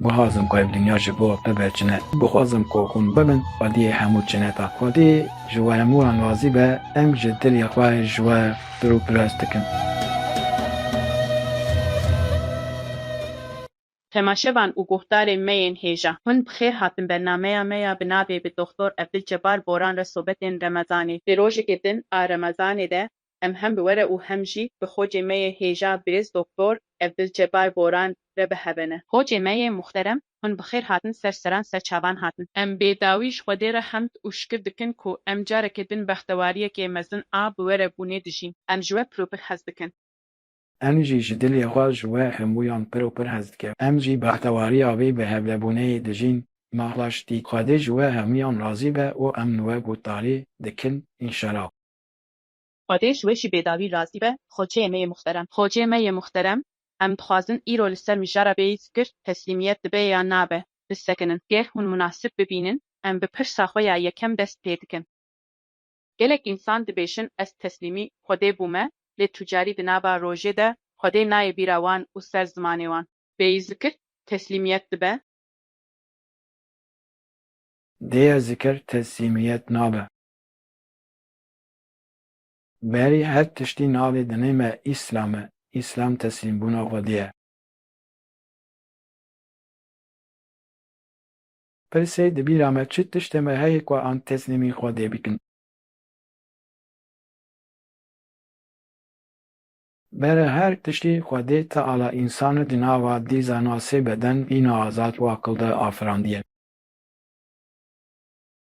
Guhazim ku ev dinya ji bo bibe çine. Guhazim ku hûn bibin xwediyê hemû çineta. Xwedî ji we hemû wan razî be, em ji dilê xwe ji we pir û pirs dikin. Temaşevan û guhdarên me yên hêja. Hûn bi xêr hatin bernameya me ya bi navê Bi Doxtor Ebdulcebar Boran re sobetên Remezanê. Di rojekê din a Remezanê de Em hem bi were û hem jî bi xocê me yê hêja birêz Doktor Evdilcebar Boran re bi heve ne. Xocê me yê muxterem hûn bi xêr hatin ser seran ser çavan hatin. Em bê dawî ji Xwedê re hemd û şikir dikin ku em carekê din bextewariyekê mezin a bi were bûnê dijîn. Em ji we pir û pir hez dikin. Em jî ji dilê xwe ji we hemûyan pir û pir hez dikin. Em jî bextewariya vê bi hevlebûneyê dijîn. Mexla şitî. Xwedê ji we hemûyan razî be û em li we gotdarî dikin înşela. Xwedê ji we jî bêdawî razî be Xoçeyê me yê muxterem. Xoçeyê me yê muxterem, em dixwazin îro li ser mijara bêyî fikir, teslîmiyet dibe ya nabe, bisekinin. Ger hûn munasib bibînin, em bi pirsa xwe ya yekem dest pê dikin. Gelek însan dibêjin ez teslîmî Xwedê bûme, lê tûcarî di nava rojê de Xwedê nayê bîra wan û ser zimanê wan. Bêyî zikir, teslîmiyet dibe. Dêya zikir, teslîmiyet nabe. Berî her tiştî navê dinê me Îslam e, Îslam teslîmbûna xwedî ye. Pirsê di bîra me çi tiştê me heye ku an teslîmî xwedê bikin. Bere her tiştî xwedê Teala însani di nava dîzana sê beden, bîna azad û aqilde afirandiye.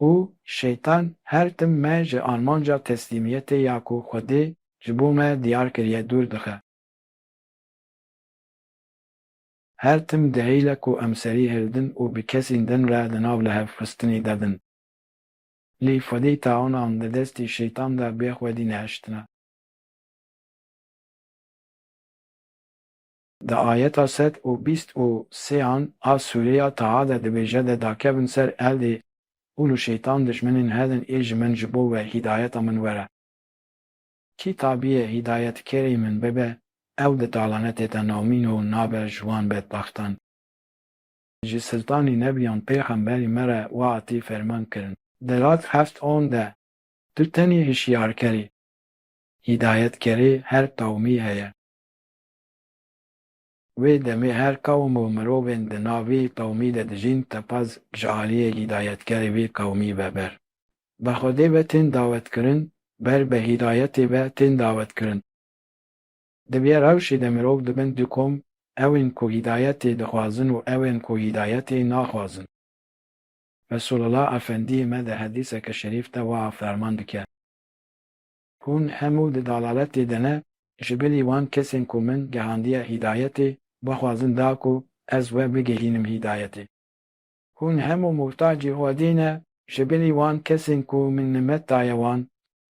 û Şeytan her tim me ji armanca teslîmiyetê ya ku Xwedê ji bo me diyar kiriye dûr dixe. Her tim dehîle ku em serî hildin û bi kesîn din re di nav lihevxistinî de bin. Lî Xwedî tawanan di destî Şeytan de bê Xwedî nehiştine. Di ayeta sed û bîst û sêan a sûrê ya Taha de dibêje de dakevin ser eldê hûn û şeytan dijminên hedin ê ji min ji bo we hîdayeta min were. Kî tabiyê hîdayetkerê min bibe ew di talanetê de nomîn û nabe ji wan bedbaxtan. Ji siltanî nebiyan pêxemberî me re wa atî ferman kirin. Di rad heft on de tu tenê hişyarker î. Hîdayetkerê her qewmî heye. Wê demê her qewm û mirovên di nav vê qewmî de dijîn teqez ji aliyê hîdayetkerê vê qewmî ve ber. Bi Xwedê ve tên dawetkirin, ber bi hîdayetê ve tên dawetkirin. Di vê rewşê de mirov dibin du kom, ew ên ku hîdayetê dixwazin û ew ên ku hîdayetê naxwazin. Resulullah Efendiyê me di hedîseke şerîf de wiha ferman dike. Hûn hemû di dalaletê de ne, ji bilî wan kesên ku min gehandiye hîdayetê, bixwazin da ku ez we bigihînim hîdayetê. Hûn hemû muhtacî Xwedê ne, ji bilî wan kesên ku min nimet daye wan,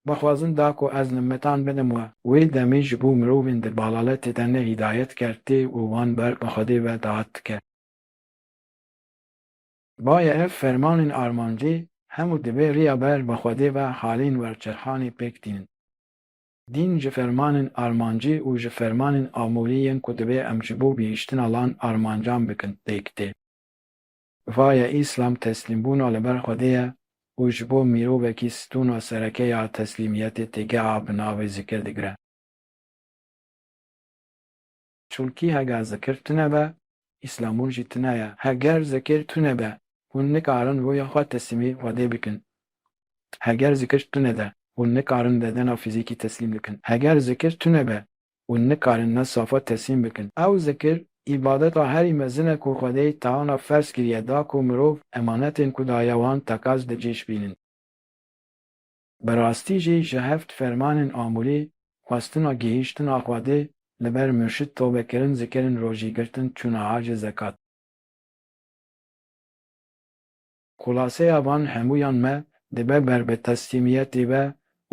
bixwazin da ku ez nimetan bidim we. Wê demê ji bo mirovên di balaletê de ne hîdayet kertê û wan ber bi Xwedê ve dahat dike. Baye ev fermanên armancî hemû divê riya ber bi Xwedê ve halên werçerxanê pêk tînin. Dîn ji fermanên armancî û ji fermanên amûrî yên ku divê em ji bo gihîştina lan armancan bikin pêk tê. Vaye Îslam teslîmbûna li ber Xwedê ye û ji bo mîrovekî stûna sereke ya teslîmiyetê têgeha bi navê zikir digire. Çulkî hega zikir tune be, îslamûn jî tune ye. Heger zikir tune be, hûn nikarin rûya xwe teslîmî Xwedê bikin. Heger zikir tune de, hûn nikarin bedena fîzîkî teslîm bikin. Heger zikir tune be, hûn nikarin ne safa teslîm bikin. Ew zikir, îbadeta herî mezin e ku Xwedê teana ferz kiriye da ku mirov emanetên ku daye wan tekez bi cî şibînin. Bi rastî jî ji heft fermanên amûrî xwestina gihîştina Xwedê li ber murşid tobekirin zikirin rojî girtin çûna hacê zekat. Xulaseya van hemûyan me dibe ber bi teslîmiyetî ve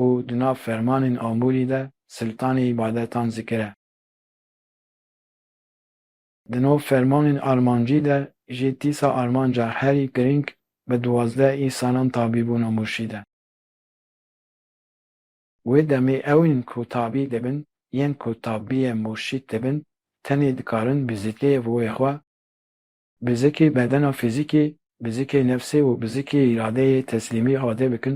û di nav fermanên amûrî de siltanê îbadetan zikire. Di nav fermanên armancî de jî tîsa armanca herî girîng bi duwazdeh î salan tabî bûna murşîd e. Wê demê ew ên ku tabî dibin yên ku tabîye murşîd dibin tenê dikarin bi zikê û wê xwe, bi zikê bedena fîzîkê, bi zikê nefsê û bi zikê îradeyê teslîmî ade bikin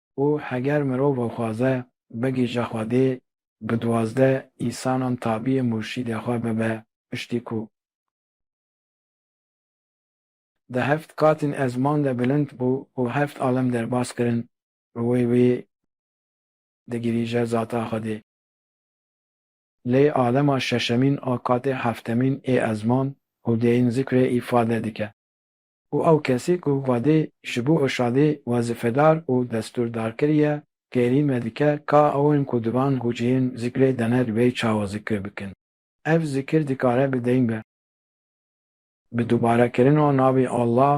Û heger mirov xwaze bigihîje Xwedê, bi duwazdeh îsanan tabîyê murşîdê xwe bibe, piştî ku. Di heft qatên ezman de bilind bû û heft alem derbas kirin, bi wê wê digihîje zata Xwedê. Lê alema şeşemîn a qatê heftemîn ê ezman û dêyîn zikrê îfade dike. û ew kesî ku Xwedê ji bo Irşadê wezîfedar û destûrdar kiriye, kêrî me dike ka ewên ku di van hûciyên zikrê de ne di wê çawa zikir bikin. Ev zikir dikare bi deyn be. Bi dubarekirina navê Allah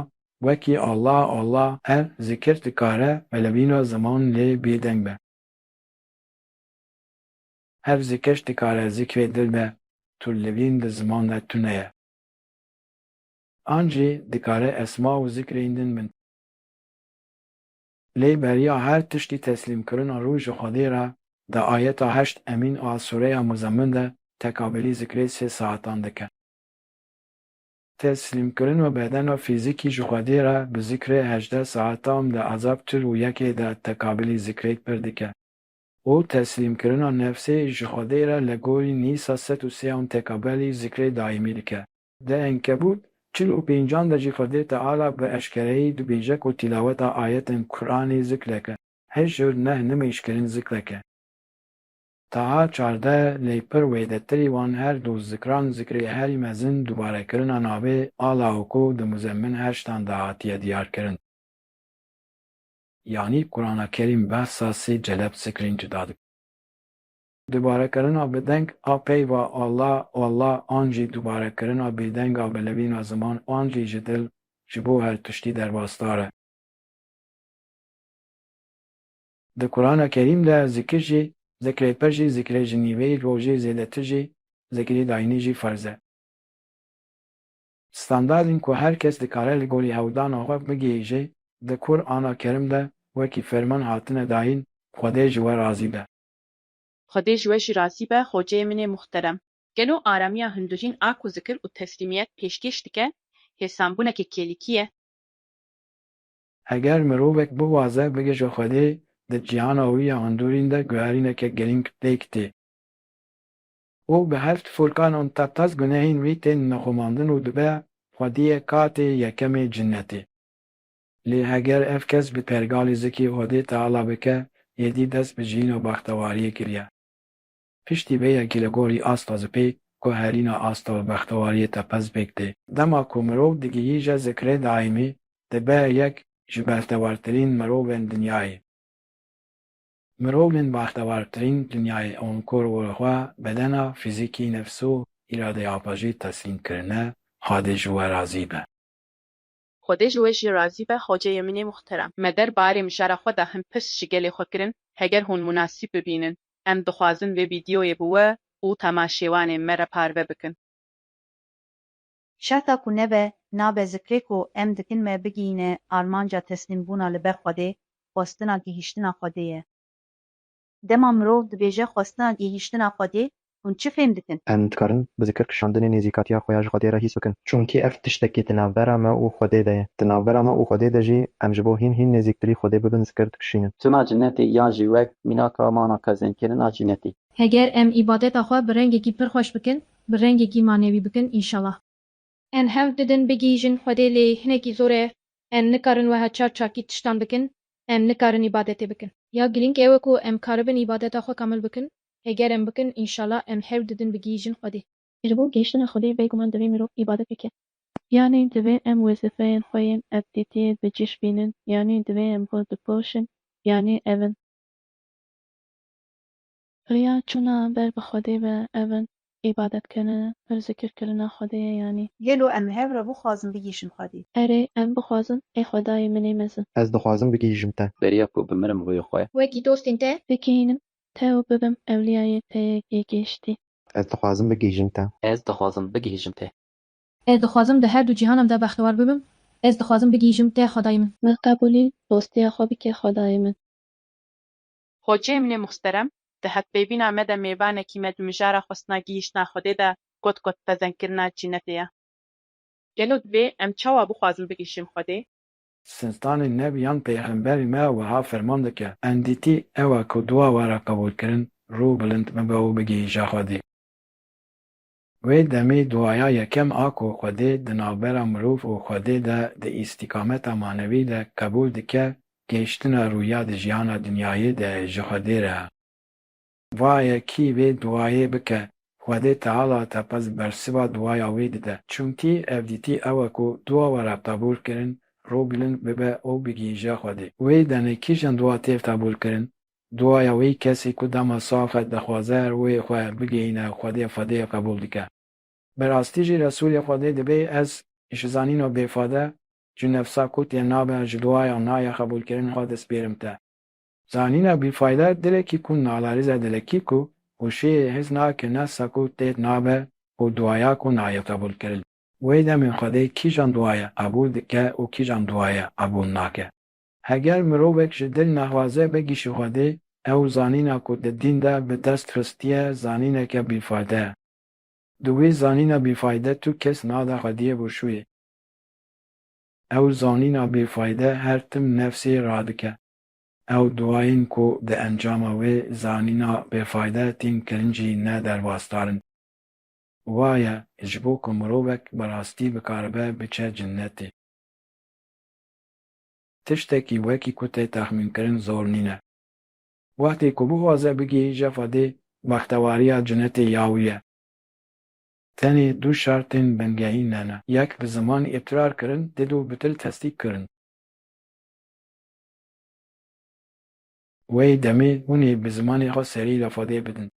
wekî Allah Allah ev zikir dikare velebîna ziman lê bêdeng be. Ev zikir dikare zikrê dil be, tu li vîn di ziman de tune ye. An jî dikare esma û zikrên din bin. Lê beriya her tiştî teslîmkirina rû ji Xwedê re di ayeta heşt emîn a sûreya Muzemmin de tekabelî zikrê sê saetan dike. Teslîmkirina bedena fîzîkî ji Xwedê re bi zikrê hejdeh saetam di ezab çil û yekê de tekabelî zikrê pir dike û teslîmkirina nefsê ji Xwedê re li gorî nîsa sed û sêan tekabelî zikrê daîmî dike. Di Enkebût çil û pêncan de jî Xwedê Teala bi eşkereyî dibêje ku tîlaweta ayetên Quranê zikrek e, hişr, neh, nimêjkirin zikrek e. Taha çardeh lê pir wêdetirî wan her du zikran zikrê herî mezin dubarekirina navê Ala û ku di Muzemmin heştan de hatiye diyarkirin. Yanî Qurana Kerîm behsa sê celeb zikrên cuda dike. Dubarekirina bi deng a peyva Alla, Oalla an jî dubarekirina bêdeng a bi levîna ziman an jî ji dil ji bo her tiştî derbasdar e. Di Kurana Kerîm de zikir jî, zikrê pir jî, zikrê ji nîveyî rojê zêdetir jî, zikrê dayînî jî ferz e. Standardên ku her kes dikare li gorî hewldana xwe bigihîje di Kur ana Kerim de wekî ferman hatine dayîn, Xwedê ji we razî be. Xwedê ji we jî razî be xoceyê min ê muxterem. Gelo aramiya hundirîn a ku zikir û teslîmiyet pêşkêş dike hêsanbûneke kêlîkî ye? Eger mirovek biwaze bige ji Xwedê, di cîhana wî ya hundirîn de guherîneke girîng pêk tê û bi heft furkan û tepez gunehên wî tên nexumandin û dibe Xwediyê katê yekemê cinnetê. Lê eger ev kes bi pergalî zikê Odê Teala bike, êdî dest bi jiyîn û bextewariyê kiriye. Piştî vê yekî li gorî asta zipê ku herîna asta û bextewariyê tepe zipêk tê. Dema ku mirov digihîje zikrê daîmî, dibe yek ji bextewartirîn mirovên dinyayê. Mirovên baxtewartirîn dinyayê ûn ku li xwe, bedena, fîzîkî, nefs û îradeya xwe jî teslîm kirine, Xwedê ji we razî be. Xwedê ji we jî razî be hoceyê min ê muhterem. Me der barê mijara xwe de hin pirs ji gelê xwe kirin, heger hûn munasîb bibînin, em dixwazin vê vîdyoyê bi we û temaşêwanên me re parve bikin. Şerta ku nebe, nabe zikrê ku em dikin me bigihîne armanca teslîmbûna li ber Xwedê, xwestina gihîştina Xwedê ye. Dema mirov dibêje xwestina gihîştina Xwedê, hûn çi fêm dikin? Em dikarin bi zikir kişandinê nêzîkatiya xwe ya ji Xwedê re hîs bikin. Çunkî ev tiştekî di navbera me û Xwedê de ye. Di navbera me û Xwedê de jî em ji bo hîn hîn nêzîktirî Xwedê bibin zikir dikişînin. Tuna cinetê ya jî wek mînaka mana qezenkirina cinetî. Heger em îbadeta xwe bi rengekî pir xweş bikin, bi rengekî manewî bikin înşallah. Em hewl didin bigihîjin Xwedê lê hinekî zor e, em nikarin weha çar çakî tiştan bikin, em nikarin îbadetê bikin. Ya girîng ew e ku em karibin îbadeta xwe kamil bikin, heger em bikin înşala em hewl didin bigihîjin Xwedê. Ji bo gihîştina Xwedê bêguman divê mirov îbadet bike. Yanî divê em wezîfeyên xwe yên evdîtiyê bi cîş bînin, yanî divê em xwe bipoşin, yanî ev in. Riya çûna ber bi Xwedê be ev in, îbadetkirin, pir zikir kirina Xwedê ye yanî. Gelo em li hev re bixwazin bigihîşin Xwedê? Erê, em bixwazin, ê Xwedayê min ê mezin. Ez dixwazim bigihîşim te. Beriya ku bimirim rûyê xwe. Wekî dostên te. Bigihînim te û bibim ewliyayê te yê gihîştî. Ez dixwazim bigihîşim te. Ez dixwazim bigihîşim te. Ez dixwazim di her du cîhanan de bextewar bibim. Ez dixwazim bigihîşim te Xwedayê min. Min qebûlî dostiya xwe bike Xwedayê min. Hoceyê min ê muxterem di hevpeyvîna me de mêvanekî me di mijara xwestina gihîştina Xwedê de got ku dipezendkirina cînetê ye. Gelo divê em çawa bixwazin bigihîşin Xwedê? Siltanê Nev yan Peyxemberê me wiha ferman dike, Endîtî ew e ku dua were qebûlkirin, rû bilind bibe û bigihîje Xwedê. Wê demê duaya yekem a ku Xwedê di navbera mirov û Xwedê de di îstîkameta manevî de qebûl dike gêştina rûya di jiyana dinyayê de ji Xwedê re. Vaye kî vê duayê bike, Xwedê Teala teqez bersiva duaya wê dide. Çimkî ev dîtî ew e ku dua we re qebûl kirin, rû bilind bibe û bigihîje Xwedê. Wê demê kîjan dua têv qebûl kirin? Duaya wî kesî ku dema sax e dixwaze rûyê xwe bigihîne Xwedê Xwedê qebûl dike. Bi rastî jî Resûlê Xwedê dibê ez ji zanîno bêfade ji nefsa ku tê nabe ji duaya naya qebûlkirin xwe dispêrim te. Zanîna bîfayde dilekî ku nalerîze dilekî ku û şêrê hez nake nefsa ku tê nabe û duaya ku nayê qebûlkirin. Wê demê Xwedê kîjan duaya qebûl dike û kîjan duaya qebûl nake. Heger mirovek ji dil naxwaze bigîşi Xwedê, ew zanîna ku di dîn de bi dest xistiye zanîneke bîfayde ye. Di wî zanîna bîfayde tu kes nade Xwediyê bûşûyê. Ew zanîna bîfayde her tim nefsê radike. Ew duayên ku di encama wê zanîna bêfayde tîn kirin jî ne derbasdar in. Wa ye ji bo ku mirovek bi rastî bikaribe biçe cinnetê. Tiştekî wekî ku tê texmînkirin zor nîne. Wextê ku bixwaze bigihîje xwedê bextewariya cinetê ya wî ye. Tenê du şertên bingehîn hene, yek bi ziman îqrar kirin dê du bi dil tesdîk kirin. Wê demê hûn ê bi zimanê xwe serî li xwedê bidin.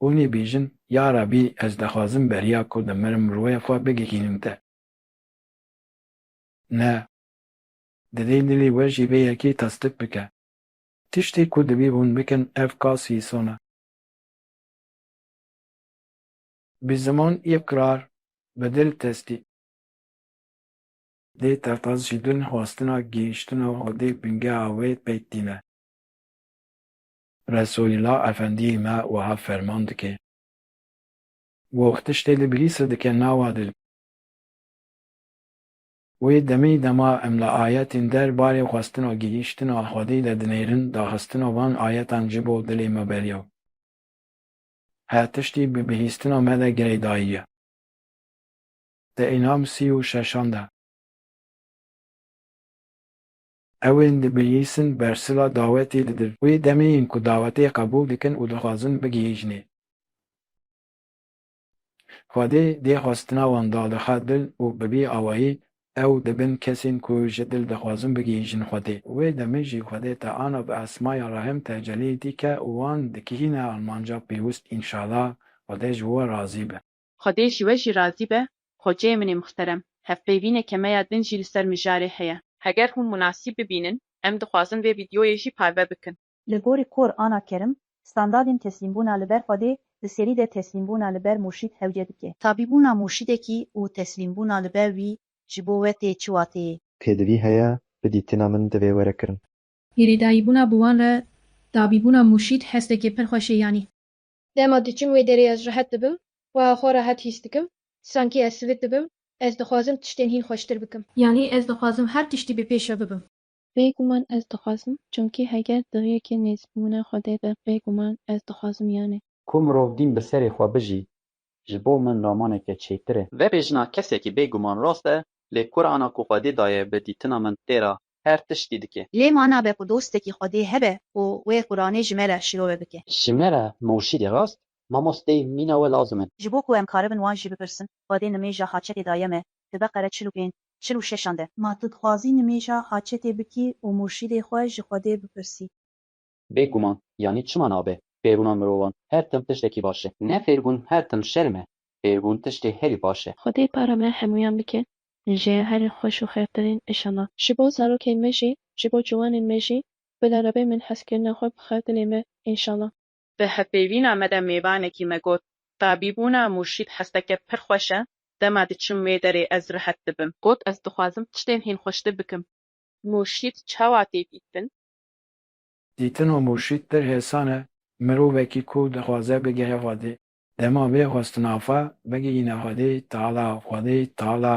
Hûn ê bêjin, Ya Rebî ez dixwazim beriya ku dimirim rûyê xwe bigihînim te. Ne. Divê dilê we jî vê yekê tasdik bike. Tiştê ku divê hûn bikin ev ka sîson e. Bi ziman îqrar, bi dil tesdî. Dê tertas ji din xwestina gihîştina hodê bingeha wê pêk tîne. Resoîla Efendîyê me wiha ferman dike. Goh tiştê li bilîse dike nawa dil. Wê demê dema em li ayetên der barê xwestina gihîştina Xwedê de dinêrin, daxistina van ayetan ji bo dilê me beriya her tiştî bi bihîstina me de girêdayî ye. Di Înam sî û şeşan de. Ew ên dibihîsin bersila dawetê didin. Wê demê yên ku dawetê qebûl dikin û dixwazin bigihîjnê. Xwedê dê xwestina wan dalixe dil û bi vî awayî ew dibin kesên ku ji dil dixwazin bigihîjin Xwedê. Wê demê jî Xwedê te ana bi esmaya rehm tecelî dike û wan dikihîne armanca pêwist înşala Xwedê ji we razî be. Xwedê ji we jî razî be Xweceyê min ê mixterem. Hevpeyvînê kemeya din jî li ser mijarê heye. Heger hûn munasîb bibînin em dixwazin vê vîdyoyê jî parve bikin. Li gorî Qur ana Kerim, standadên teslîmbûna li ber Xwedê di serî de teslîmbûna li ber murşîd hewce dike. Tabî bûna murşîdekî û teslîmbûna li ber wî ji bo we tê çi wateyê ye? Pêdivî heye, bi dîtina min divê were kirin. Hêrêdayîbûna bi wan re tabî bûna murşîd hestekê pir xweş ê yanî. Dema diçim wê derê ez rehet dibim, wiha xwe rehet hîs dikim, sankî ez sivit dibim, ez dixwazim tiştên hîn xweştir bikim. Yanî ez dixwazim her tiştî bi pêş re bibim. Bêguman ez dixwazim, çimkî heger di riyekê nêzîkbûna Xwedê be bêguman ez dixwazim yanê. Ku mirov dîn bi serê xwe bijî, ji bo min romaneke çêtir e. Vebêjina kesekî bêguman rast e, lê Qur'ana ku Xwedê daye bi dîtina min têra her tiştî dike. Lê ma nabe ku dostekî Xwedê hebe ku wê Qur'anê ji me re şirove bike. Ji me re murşîdê rast, mamosteyê mîna we lazim in. Ji bo ku em karibin wan jî bipirsin, Xwedê nimêja haçetê daye me, Ti Beqere çil û pênc. çil û şeşan de. Ma tu dixwazî nimêja haçetê bikî û murşîdê xwe ji Xwedê bipirsî. Bê guman, yanî çima nabe fêrûna mirovan her tim tiştekî baş e? Ne fêrbûn her tim şerm e, fêrbûn tiştê herî baş e. Xwedê para me hemûyan bike ji herî xweş û xêrtirîn îşellah. Ji bo zarokên me jî, ji bo ciwanên me jî bila rebe min hezkirina xwe bixwe dilê me, înşallah. Di hevpeyvîna me de mêvanekî me got, Tabîbûna Murşîd hesteke pir xweş e, dema diçim wê derê ez rihet dibim. Got, Ez dixwazim tiştên hîn xweştir bikim. Murşîd çawa tê dîtin? Dîtina Murşîd pir hêsan e, mirovekî ku dixwaze bigehe Xwedê, dema vê xwestina xwe bigihîne Xwedê Teala, Xwedê Teala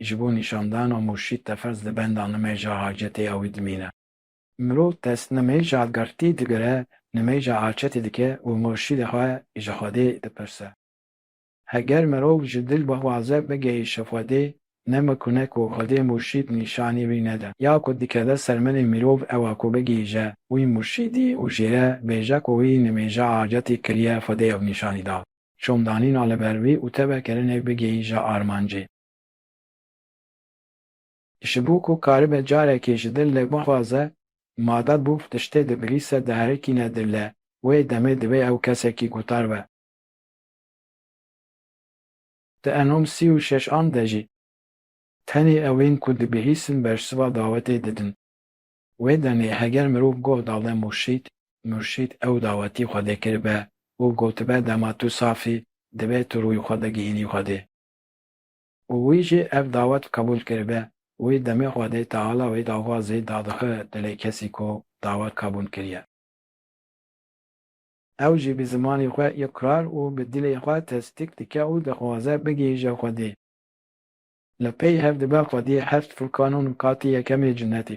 ji bo nîşandana Murşîd tefez di benda nimêja hacetê ew dimîne. Mirov dest nimêja girtî digire, nimêja arçetî dike û murşîdê xwe ji Xwedê dipirse. Heger mirov ji dil bixwaze bigihîşe Xwedê, ne mikune ku Xwedê murşîd nîşanî wî nede. Ya ku dikeve ser milê mirov ew a ku bigihîje wî murşîdî û jê re bêje ku wî nimêja arcetî kiriye Xwedê ew nîşanî da. Şomdanîna li ber wî û tevekirinê bigihîje armancê. Ji bo ku karibe carekê ji dil lê bixwaze, mada bû tiştê digrîse diherikîne dil lê, wê demê divê ew kesekî gutar be. Di enom sî û şeş an de jî tenê ewên ku dibihîsin bersiva dawetê didin. Wê demê heger mirov goh dale murşîd, murşîd ew dawetî Xwedê kiribe û gotibe dema tu saf î, divê tu rûyê xwe bigihînî Xwedê. û wî jî ev dawet qebûl kiribe, wî demê xwe dê Teala wê dava zêd dadixe dilê kesî ku dawet qebûl kiriye. Ew jî bi zimanê xwe îqrar û bi dilê xwe tesdîk dike û dixwaze bigihîje Xwedê. Li pey hev dibe Xwedî heft furkan û nikatê yekemê cinnetê.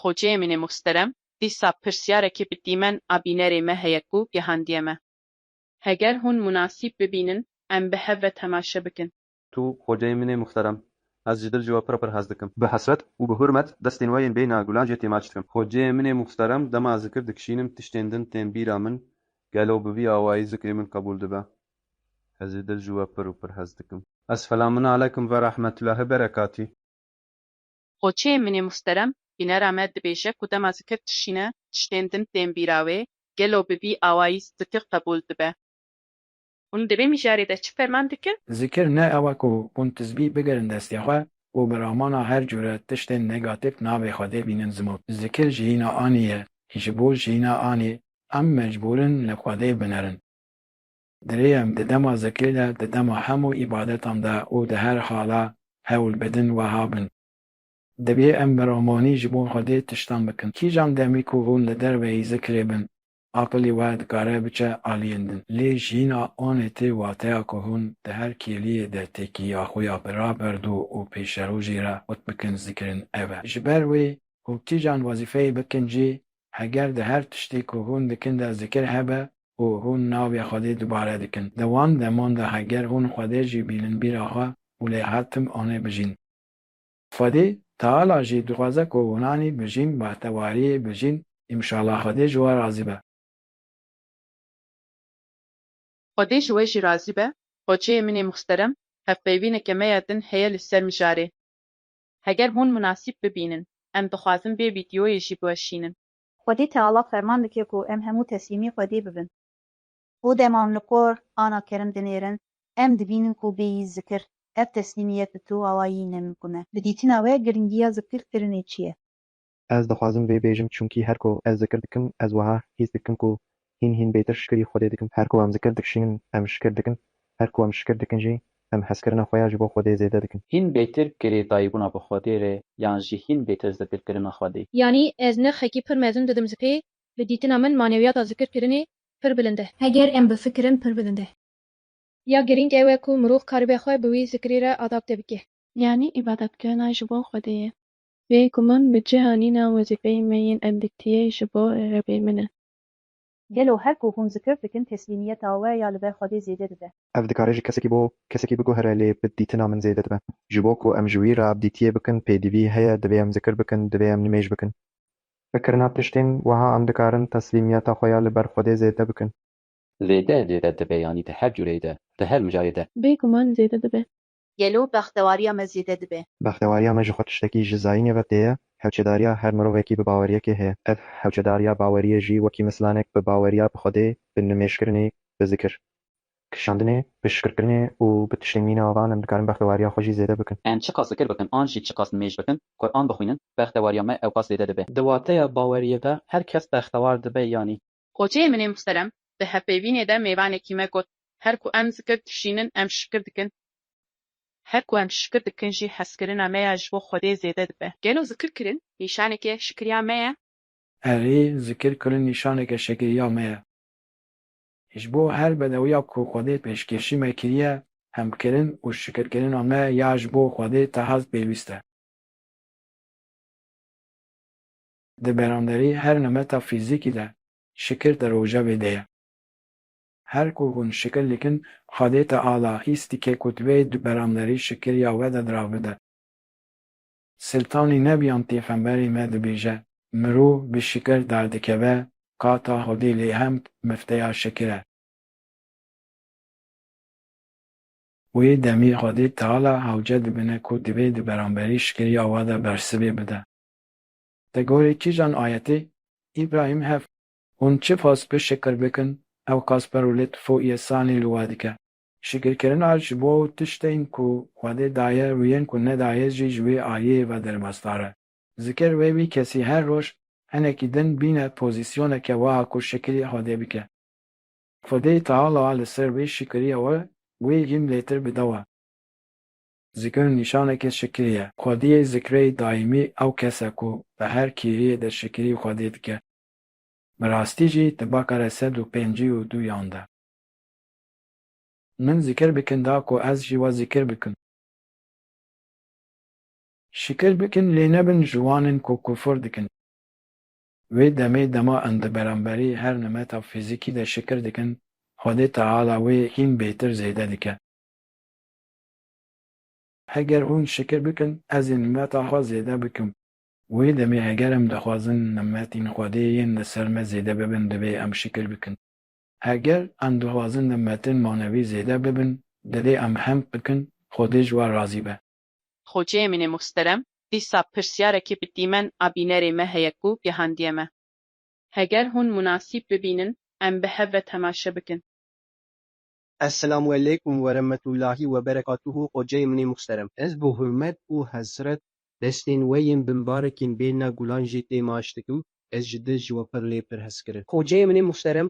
Xocêemînê Muhsterem, Dîsa pirsyarekî bi dîmen a bînerê me heye ku gehandiye me. Heger hûn munasîb bibînin em bi hev ve temaşe bikin. Tu Xocêemînê Muhterem, ez ji dil ji we pir pir hez dikim. Bi hesret û bi hurmet destên we yên bêyna gulan jê têmaç dikim. Xocêemînê Muhterem, dema zikir dikişînim tiştên din tên bîra min, gelo bi vî awayî zikrê min qebûl dibe? Ez ji dil ji we pir û pir hez dikim. Esfelamunalekum ve rahmetullahi berekatî. Xoçeyê min ê musterem bînera me dibêje ku dema zikir dişîne tiştên din tên bîra wê, gelo bi vî awayî zikir qebûl dibe? Hûn di vê mijarê de çi ferman dikin? Zikir ne ew e ku hûn tizbî bigirin destê xwe û bi ramana her cûre tiştên negatîf navê Xwedê bînin zimût. Zikir jiyîna anî ye. Ji bo jiyîna anî em mecbûr in li Xwedê binerin. Dirêyem di dema zikirê de, di dema hemû îbadetan de û di her hala hewl bidin weha bin, Divê em bi ramanî ji bo Xwedê tiştan bikin. Kîjan demî ku hûn li derveyî zikirê bin, aqilî we dikare biçe aliyên din. Lê jîna anê tê wateya ku hûn di her kêliyê de têkîya xwe ya bi raberdû û pêşerojê re xurt bikin zikirin ev e. Ji ber wê ku kîjan wezîfeyê bikin jî, heger di her tiştê ku hûn dikin de zikir hebe, û hûn navê Xwedê dubare dikin. Di wan deman de heger hûn Xwedê jî bînin bîra xwe û lê her tim anê bijîn. Xwedê Teala jî dixwaze ku hûnanî bijîn, bahtewariyê bijîn, imşala Xwedê ji we razî be. Xwedê ji we jî razî be, Xoçeyê min ê muxsterem, hevpeyvîneke me ya din heye li ser mijarê. Heger hûn munasîb bibînin, em dixwazin vê vîdyoyê jî biweşînin. Xwedî Teala ferman dike ku em hemû teslîmî Xwedê bibin. Ku dema em li kor ana kerim dinêrin, em dibînin ku bêyî zikir, ev teslîmiyet bi tu awayî nemimkun e. Bi dîtina we girîngiya zikirkirinê çi ye? Ez dixwazim vê bêjim çunkî her ku ez zikir dikim, ez wiha hîs dikim ku Hîn hîn bêtir şikirî Xwedê dikim. Her ku em zikir dikişînin em şikir dikin, her ku em şikir dikin jî em hezkirina xwe ya ji bo Xwedê zêde dikin. Hîn bêtir girêdayîbûna bi Xwedê re yan jî hîn bêtir zikirkirina Xwedê. Yanî ez nirxekî pir mezin didim zikê, bi dîtina min manewiyata zikirkirinê pir bilind e. Heger em bifikirin pir bilind e. Ya girîng ew e ku mirov karibe xwe bi wî zikirî re adapte bike. Yanî îbadetkirina ji bo Xwedê ye. Bê guman bi cihanîna wezîfeyê me yên endîktiyê ji bo Rebê min e. Gelo her ku hûn zikir dikin teslîmiyeta we ya li ber Xwedê zêde dibe? Ev dikare ji kesekî bo kesekî biguhere lê bi dîtina min zêde dibe. Ji bo ku em ji wî re abdîtiyê bikin pêdivî heye divê em zikir bikin, divê em nimêj bikin. Bi kirina tiştên wiha em dikarin teslîmiyeta xwe ya li ber Xwedê zêde bikin. Zêde zêde dibe yanî di her cûreyê de, di her mijayê de. Bê guman zêde dibe. gelo bextewariya me zêde dibe? Bextewariya me ji xwe tiştekî ji zayînê ve tê ye. Hewçedariya her mirovekî bi baweriyekê heye. Ev hewçedariya baweriyê jî wekî mislanek bi baweriya bi Xwedê, bi nimêjkirinê, bi zikir kişandinê, bi şikirkirinê û bi tiştên mîna ava em dikarin bextewariya xwe jî zêde bikin. Em çiqas zikir bikin an jî çiqas nimêj bikin, Quran bixwînin, bextewariya me ewqas zêde dibe. Di wateya baweriyê de her kes bextewar dibe yanî? Koçeyê min ê muhterem di hevpeyvînê de mêvanekî me got, Her ku em zikir dişînin em şikir dikin, her ku em şikir dikin jî hezkirina me ya ji bo Xwedê zêde dibe. Gelo zikir kirin nîşaneke şikiriya me ye? Erê, zikir kirin nîşaneke şikiriya me ye. Ji bo her bedewiya ku Xwedê pêşkêşî me kiriye, hemkirin û şikirkirina me ya ji bo Xwedê tehez pêwîst e. di beranderî her nemeta fîzîkî de şikir di rojevê de ye. Her ku hûn şikir dikin xwedêta ala hîstîkê ku divê di beranderî şikiriya we de di ra bide. Siltanî Nebiyan pêxemberê me dibêje, Mirov bi şikir derdikeve ka ta hodê lê hemd mifteya şikir e. Wê demî xwedê Teala hewce dibine ku divê di beranberî şikiriya we de bersivê bide. Di gorî kîjan ayetê? Îbrahîm hev. Hûn çi fas bi şikir bikin, ewqas perwlêt fû yê sanî li we dike. Şikirkirina ji bo tiştên ku Xwedê daye û yên ku nedaye jî ji wê aliyê ve derbasdar e. Zikir wê wî kesî her roj hinekî din bîne pozîsyoneke wiha ku şikirî Xwedê bike. Xwedê Teala li ser vê şikirîya we wê hîm lêtir bidawe. Zikir nîşaneke şikirî ye. Xwediyê zikreyî daîmî ew kes e ku di her kêriyê de şikirî Xwedê dike. Bi rastî jî di bakare sed û pêncî û du yan de. Min zikir bikin da ku ez jî we zikir bikim. Şikir bikin lê nebin ji wan in ku kufur dikin. Wê demê dema in di beramberî her nimeta fîzîkî de şikir dikin, Xwedê Teala wê hîn bêtir zêde dike. Heger hûn şikir bikin, ez ê nimeta xwe zêde bikim. Wê demê heger em dixwazin nimetên Xwedê yên li ser me zêde bibin divê em şikir bikin. Heger em dixwazin nimetên manevî zêde bibin divê em hemd bikin Xwedê ji we razî be. Xocê min ê muhsterem, dîsa pirsiyarekî bi dîmen a bînerê me heye ku gehandiye me. Heger hûn munasîb bibînin em bi hev ve temaşe bikin. Eselamu Eleykum Weremetulahî Weberekatuhu Xoceyê min ê muxterem. Ez bi hurmet û hesret destên we yên bimbarekên bêrna gulan jê tê maş dikim, ez ji dil ji we pir lê pir hez kirin. Xoceyê min ê muxterem,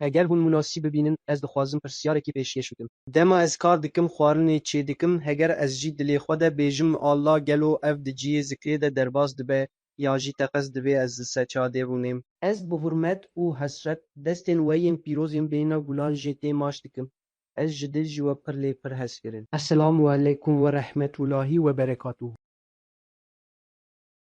heger hûn munasîb bibînin ez dixwazim pirsyarekî pêşkêş bikim. Dema ez kar dikim xwarinê çêdikim heger ez jî dilê xwe de bêjim Allah gelo ev di ciyê zikrê de derbas dibe ya jî teqez divê ez li ser çadê rûnêm. Ez bi hurmet û hesret destên we yên pîroz yên bêhna gulan jê tê maş dikim. Ez ji dil ji we pir lê pir hez kirin. Eselamu aleykum werehmetûlahî weberekatûhû.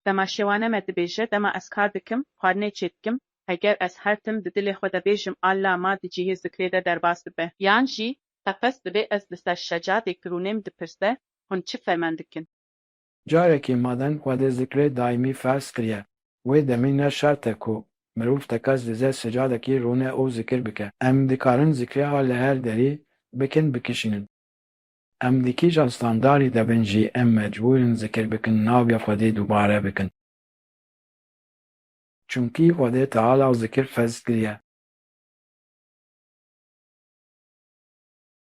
Dema şêwane me dibêje, dema ez kar dikim, xwarinê çêdikim, heger ez her tim di dilê xwe de bêjim a la ma di cihê zikrê de derbas dibe. Yan jî teqez divê ez li ser şecadê ki rûnêm dipirse, hûn çi femen dikin? Carekî maden Xwedê zikrê daîmî ferz kiriye, wê demî ne şert e ku mirov tekez dize secadekî rûne û zikir bike. Em dikarin zikrê a li her derî bikin bikişînin. Em di kîjan standarî de bin jî em mecbûr in zikir bikin navê Xwedê dubare bikin. Çimkî Xwedê Teala zikir ferz kiriye.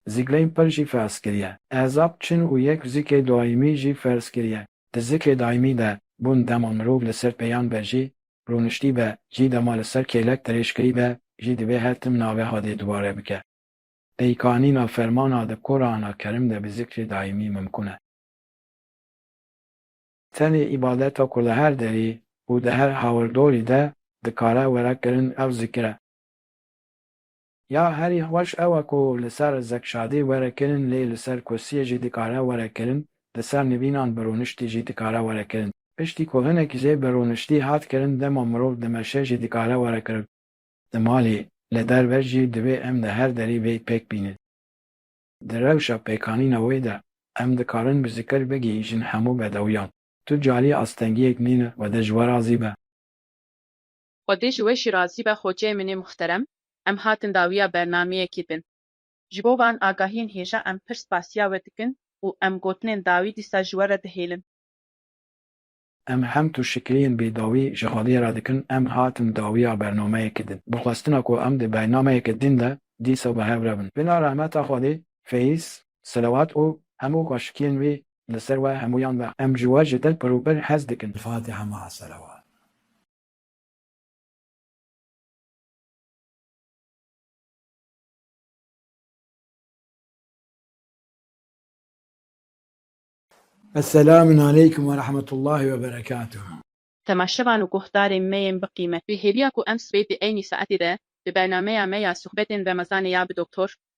Zikleyn pir jî ferz kiriye. Ezab çin û yek zikê daîmî jî ferz kiriye. Di zikê daîmî de bûn dema mirov li ser pêyan be jî rûniştî be jî dema li ser kêlek dirêj kirî be jî divê her tim navê hadê dubare bike. Peykanîna fermana di Qurana Kerim de bi zikrê daîmî mimkun e. Tenê îbadeta ku li her derî û di her hawirdorî de dikare were kirin ew zikir e. Ya herî xweş ew e ku li ser zekşadî were kirin lê li ser kursiyê jî dikare were kirin, li ser nivînan bi rûniştî jî dikare were kirin. Piştî ku hinek jê bi rûniştî hat kirin dema mirov dimeşe jî dikare were kirin. Di malê, li derve jî divê em li her derî vê pêk bînin. Di rewşa pêkanîna wê de em dikarin bi zikir bigihîjin hemû bedewiyan. Tu carî astengiyek nîne wede ji we razî be. Xwedê ji we jî razî be xoceyê min ê muhterem, em hatin dawiya bernameyekê din. Ji bo van agahiyên hêja em pir spasiya we dikin û em gotinên dawî dîsa ji we re dihêlin. Em hem tu şikliyên bêdawî ji xwedê re dikin, em hatin dawiya bernameyekê din. Bi xwestina ku em di bernameyeke din de dîsa bi hev re bin. Bila rehmeta xwedê, feyz, selewat û hemû xweşikiyên wî li ser we hemûyan be. Em ji we ji dil pir û pir hez dikin. Fatiha maa selewat. Eselamun aleykum ve rahmetullahi ve berekatuhu. Temaşevan û guhdarên me yên bi qîmet. Wê hêviya ku em sibê di eynî saetê de di bernameya me ya suhbetên remezanê ya bi Doktor.